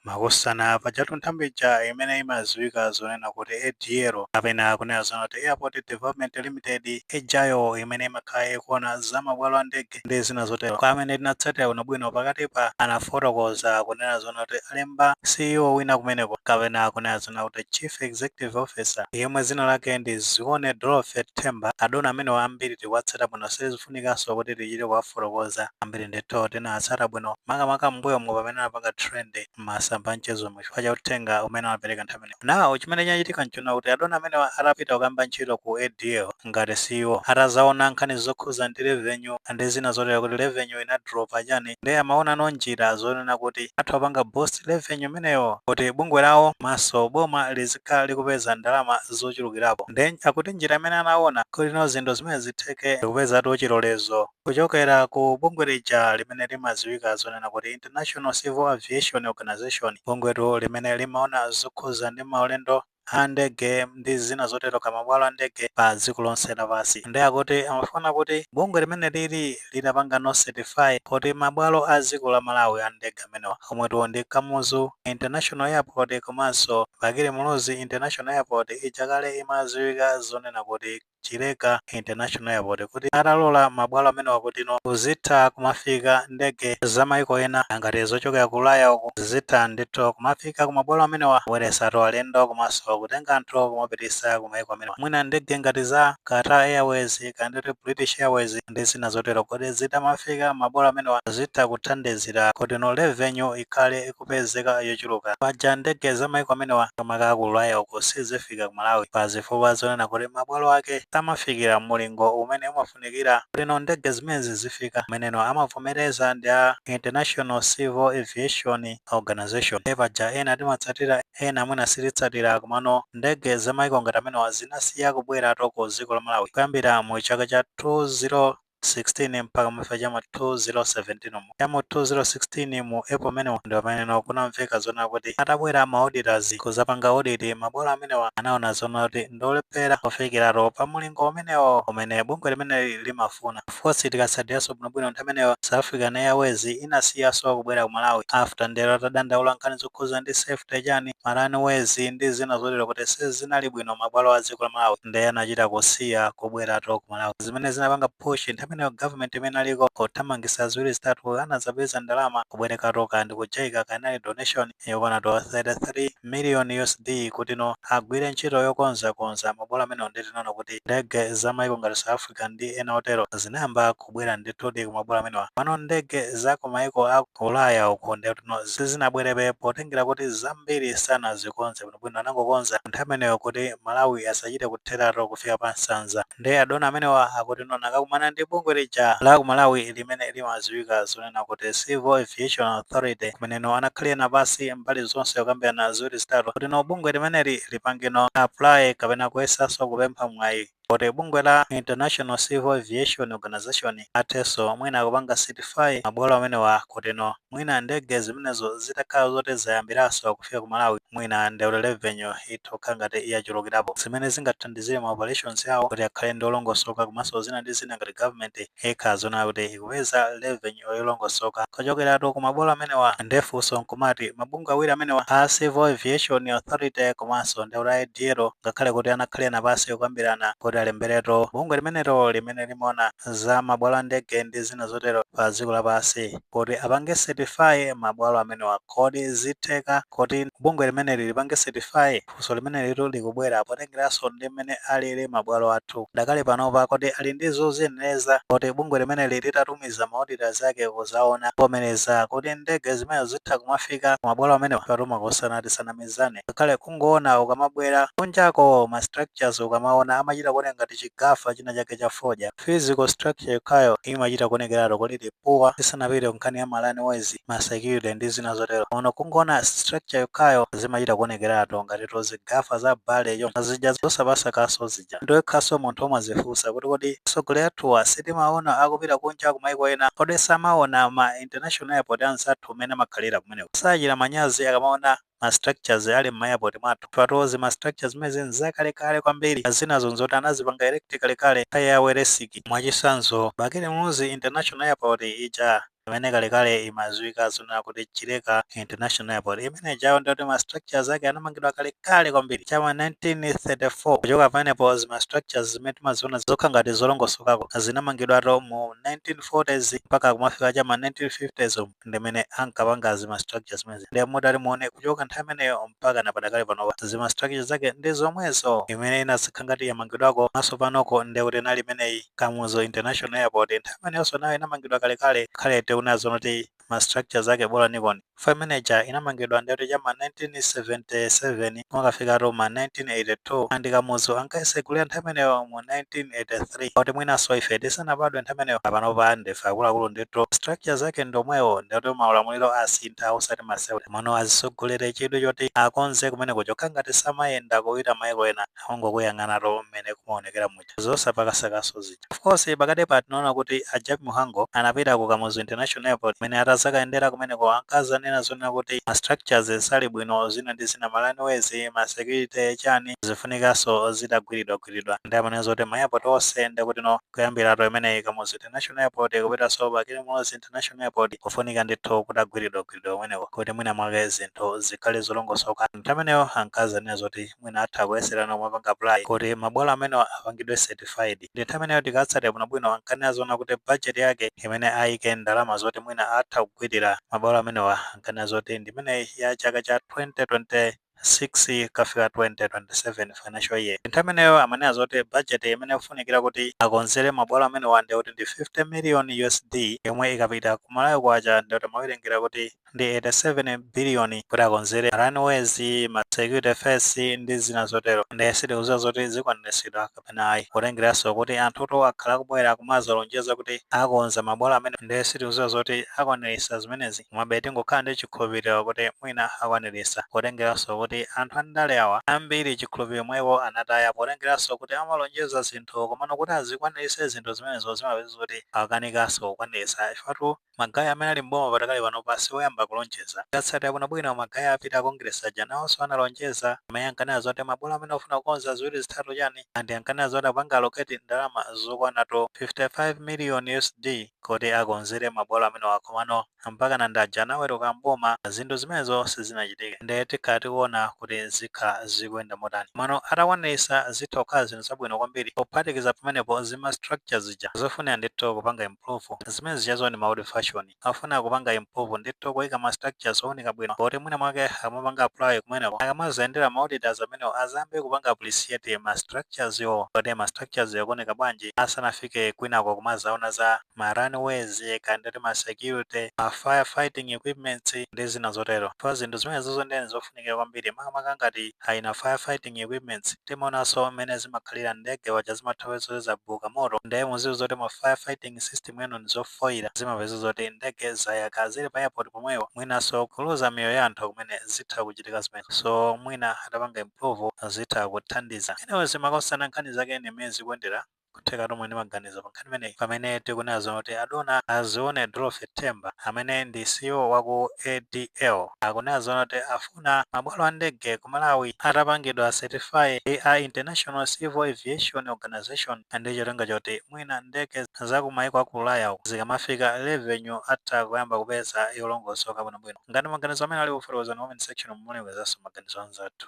Makosana, pajatu nthambi ija imene imadziwika zonena kuti ADL kapena kunena zoona kuti Airport Development Limited ijayo imene imakhala ikuona za mabwalo a ndege ndi zina zotero. Kwa amene tinatsatira bwinobwino pakatipa anafotokoza kunena zoona kuti alemba CEO wina kumeneko kapena kunena zoona kuti Chief Executive Officer yemwe dzina lake ndi Zione Dorothy Themba. Adona amenewa ambiri tikuwatsata bwino. sizifunikanso kuti tichite kuwafotokoza ambiri ndithu tinawatsata bwino, makamaka m'mbuyomu pamene anapanga trend m'masamba a mchezomu chifukwa cha uthenga umene anapereka nthawi imeneyo. Now, chimene chinachitika n'chonena kuti adona amenewa atapita kukayamba ntchito ku ADL ngati CEO, atazaona nkhani zokhuza ndi revenue ndi zina zotero kuti revenue inadropa chani, ndiye amaonano njira zonena kuti atha kupanga boost revenue imeneyo kuti bungwe lawo komanso boma lizikhala likupeza ndalama zochulukirapo nde akuti njira imene anaona kutino zinthu zimenezi zitheke ndikupezatu chilolezo kuchokera ku bungwe lija limene limaziwika zonena kuti International Civil Aviation Organization bungwetu limene limaona zokhuza ndi maulendo a ndege ndi zina zotero ka mabwalo a ndege pa dziko lonse lapansi nde akuti amafuna kuti bungwe limeneli litapangano certify kuti mabwalo a dziko la Malawi a ndege amenewa omwetu ndi Kamuzu International Airport komanso Bakili Muluzi International Airport ija kale imadziwika zonena kuti Chileka International Airport kuti atalola mabwalo amenewa kutino kuzitha kumafika ndege za maiko ena ngati zochokera ku Ulaya uku zizitha ndithu kumafika ku mabwalo amenewa kubweresatu alendo komanso kutenga anthu kumapitisa ku maiko amenewa mwina ndege ngati za Qatar Airways kaya ndithu British Airways ndi zina zotero kuti zitamafika mabwalo amenewa zitha kuthandizira kutino revenue ikhale kupezeka yochuluka. Paja ndege za maiko amenewa makamaka aku Ulaya uku sizifika ku Malawi pa zifukwa zonena kuti mabwalo ake samafikira mulingo umene umafunikira kutino ndege zimenezi zizifika umeneno amavomereza ndi a International Civil Aviation Organization. Nde paja ena timatsatira ena mwina sititsatira komano ndege za maiko ngati amenewa zinasiya kubweratu ku dziko la Malawi kuyambira mu chaka cha 20. 16 mpaka kufika cha m'ma 2017 cha m'ma 2016 mu april amenewo ndi pameneno kunamveka zonena kuti atabwera ma auditors kuzapanga audit mabwalo amenewa anaona zonena kuti ndi olephera kufikiratu pa mulingo umenewo umene bungwe limeneli limafuna of course tikatsatiranso bwinobwino nthawi imeneyo south african airways inasiyaso kubwera ku malawi after ndithu atadandaula nkhani zokhuza ndi safety chani ma runways ndi zina zotero kuti sizinali bwino mabwalo a dziko la malawi ndiye anachita kusiya kubweratu ku Malawi zimene zinapanga push nthawi imeneyo government imene aliko kuthamangisa ziwiri zitatu anazapeza ndalama kubwerekatu ka ndi kujaika kanali donation yokwana to 33 million USD kuti no agwire ntchito yokonza konza mabwalo amenewo ndi tinaona kuti ndege za maiko ngati South Africa ndi ena otero zinayamba kubwera ndithudi ku mabwalo amenewa pano ndege za ku maiko a ku Ulaya uku ndi kuti no sizinabwerebe potengera kuti zambiri sanazikonze bwino bwino anangokonza nthawi imeneyo kuti Malawi asachite kutheratu kufika pa nsanza nde adona amenewa akuti no anakakumana ndi bungwe lija la ku Malawi limene limaziwika zonena kuti Civil Aviation Authority kumene no anakhalirana pansi mbali zonse kukambirana ziwiri zitatu kuti no bungwe limeneli lipange no apply kapena kuyesanso kupempha mwayi Kuti bungwe la International Civil Aviation Organization athenso mwina kupanga certify mabwalo amenewa kuti no mwina ndege zimenezo zitakhala zoti zayambiranso kufika ku Malawi mwina nde revenue itha kukhala ngati yachulukirapo zimene zingathandizire ma operations awo kuti akhale ndi olongosoka komanso zina ndi zina ngati government ikhala zoona kuti ikupeza revenue yolongosoka kuchokeratu ku mabwalo amenewa nde funso nkumati mabungwe awiri amenewa a Civil Aviation Authority komanso nde kuti ADL ngakhale kuti anakhalirana pansi kukambirana kuti alemberetu bungwe limenelo limene limaona za mabwalo a ndege ndi zina zotero pa dziko lapansi kuti apange certify mabwalo amenewa kodi zitheka kuti bungwe limeneli lipange certify Funso limenelitu likubwera potengeranso ndi mmene alili mabwalo athu padakali panopa, kodi ali ndi zoziyenereza zoti bungwe limeneli litatumiza ma auditors ake kuzaona, kuvomereza kuti ndege zimenezo zitha kumafika ku mabwalo amenewa? Apatu makosana tisanamizane, ngakhale kungoona ukamabwera kunjako ma structures ukamaona amachita kuoneka ngati chigafa china chake cha fodya. Physical structure yokhayo imachita kuonekeratu kuti ili poor tisanapite ku nkhani ya ma runways, ma security ndi zina zotero. Komano kungoona structure yokhayo zimachita kuonekeratu ngatitu zigafa za bale zija zosapasa kaso zija. Ndi wekhanso munthu umadzifunsa kuti kodi atsogoleri athuwa sitimawaona akupita kunja ku maiko ena? Kodi samaona ma international airport anzathu mmene amakhalira kumeneko? Sachita manyazi akamaona ma structures ali mma airport mwathu mutu zima structures zimenezi nzakale kale kwambiri zinazo nzoti anazipanga erect kale kale nthawi ya weresiki mwachisanzo bakili muluzi international airport ija imene kale kale imaziwika zonena kuti chileka international airport imene ijayo ndoti ma structures ake anamangidwa kale kale kwambiri chama 1934 kuchoka pamenepo zima structures zimene timaziona zokhala ngati zolongosokako zinamangidwatu mu 1940s mpaka kumafika chama 1950s umu. ndimene ankapanga zima structure zimenezi ndiye mutati muone kuchoka nthawi imeneyo mpaka na padakali panopa zima structure zake ndi zomwezo imene inazakhala ngati yamangidwako mwasopanoko ndiye kuti inali imeneyi kamuzu international airport nthawi imeneyonso nayo inamangidwa kalekale ngakhale tiona zonena kuti ma structure zake bolaniko ndi ya manager inamangidwa ndiye kuti chama 1977 Kumakafika tu ma 1982 a ndi Kamuzu ankayisegulira nthawi imeneyo mu 1983 kuti mwinanso ife tisanabadwe nthawi imeneyo panopa ndife akuluakulu ndithu structure zake ndi omwewo ndikuti maulamuliro asintha osati masewera komano azisogolere chidwi choti akonze kumeneko chokha ngati samayenda kupita maiko ena angokuyang'ana tu mmene kumaonekera mu muja zosapakasakaso zija of course pakatipa tinaona kuti a Jappie Mhango anapita ku Kamuzu International Airport mmene atazakayendera kumeneko ankazanena zonena kuti ma structures sali bwino zina ndi zina ma runways ma security chani zifunikaso zitagwiridwagwiridwa ndi amanena zoti ma airport onse ndikuti no kuyambiratu imeneyi Kamuzu International Airport kupitaso pa Bakili Muluzi International Airport kufunika ndithu kutagwiridwagwiridwa kumeneko kuti mwina mwake zinthu zikhale zolongosoka nthawi imeneyo ankazanena zoti mwina atha kuyesera nawo kumapanga apply kuti mabwalo amenewa apangidwe certified. Ndi nthawi imeneyo tikatsatira bwinobwino ankanena zonena kuti budget yake imene aike ndalama zoti mwina atha kugwirira mabwalo amenewa ankanena zoti ndi imeneyi ya chaka cha 2026 kukafika 2027 financial year. Nthawi imeneyo amanena zoti budget imene ikufunikira kuti akonzere mabwalo amenewa ndikuti ndi 50 million USD yomwe ikapita ku Malawi kwacha ndikuti timawerengera kuti ndi 87 billion kuti akonzere runways, ma security fence ndi zina zotero nde sitikuziwa zoti zikwaniritsidwa kapena ayi potengeranso kuti anthutu akhala akubwera akumazalonjeza kuti akonza mabwalo amenewa nde sitikuziwa zoti akwaniritsa zimenezi komabe tingokhala ndi chikhulupiliro kuti mwina akwaniritsa potengeranso kuti anthu andale awa ambiri chikhulupiliro mwa iwo anataya potengeranso kuti amalonjeza zinthu komano kuti azikwaniritse zinthu zimenezo zimapeza zoti akanikanso kukwaniritsa chifukwa tu Magaye amene ali m'boma padakali panopa si oyamba kulonjeza. Tikatsatira bwinobwino, magaye apita a Congress aja nawonso analonjeza. Amenewo ankanena zoti mabwalo amenewa akufuna kukonza ziwiri zitatu chani and ankanena zoti akupanga allocate ndalama zokwanatu 55 million USD kuti akonzere mabwalo amenewa komano mpakana anadza anaweruka m'boma zinthu zimenezo sizinachitike. Nde tikhala tikuona kuti zikhala zikuyenda motani. Komano atakwaniritsa zitha kukhala zinthu zabwino kwambiri pophatikiza pamenepo zima structure zija zofunikira ndithu kupanga im. improve zimene zijazo ndi ma old fashion afuna kupanga improve ndithu kuika ma structures ooneka bwino kuti mwina mwake akamapanga apply kumeneko akamazayendera ma auditors amenewo azayambe kupanga appreciate ma structures wo kuti ma structures akuoneka bwanji asanafike kwinako kumazaona za ma runways kaya ndikuti ma security ma fire fighting equipments ndi zina zotero pa zinthu zimenezozo ndiyeni zofunika zofunikira kwambiri makamaka ngati ayi ma fire fighting equipments timaonanso mmene zimakhalira ndege waja zimatha kupezeka zoti zabuka moto nde mudziwe zoti ma fire fighting system anu ndizofoira zimapeza zoti ndege zayaka zili pa airport pomwewo mwinanso kuluza miyoyo ya anthu kumene zitha kuchitika zimenezo so mwina atapanga improve zitha kuthandiza anyways makosana nkhani zake ndi mmene zikuyendera N'kutheka muli ndi maganizo pa nkhani imeneyi pamene tikunena zoti adona a Zione Dorothy Themba amene ndi ceo wa ku ADL akunena zoti afuna mabwalo a ndege ku Malawi atapangidwa certify ndi a International Civil Aviation Organisation ndi cholinga choti mwina ndege za ku maiko a ku ulaya uku zikamafika revenue atha kuyamba kupeza yolongosoka bwinobwino. Ngati maganizo amenewa alipo fotokozani mu comment section mu muwerengezanso maganizo anzathu.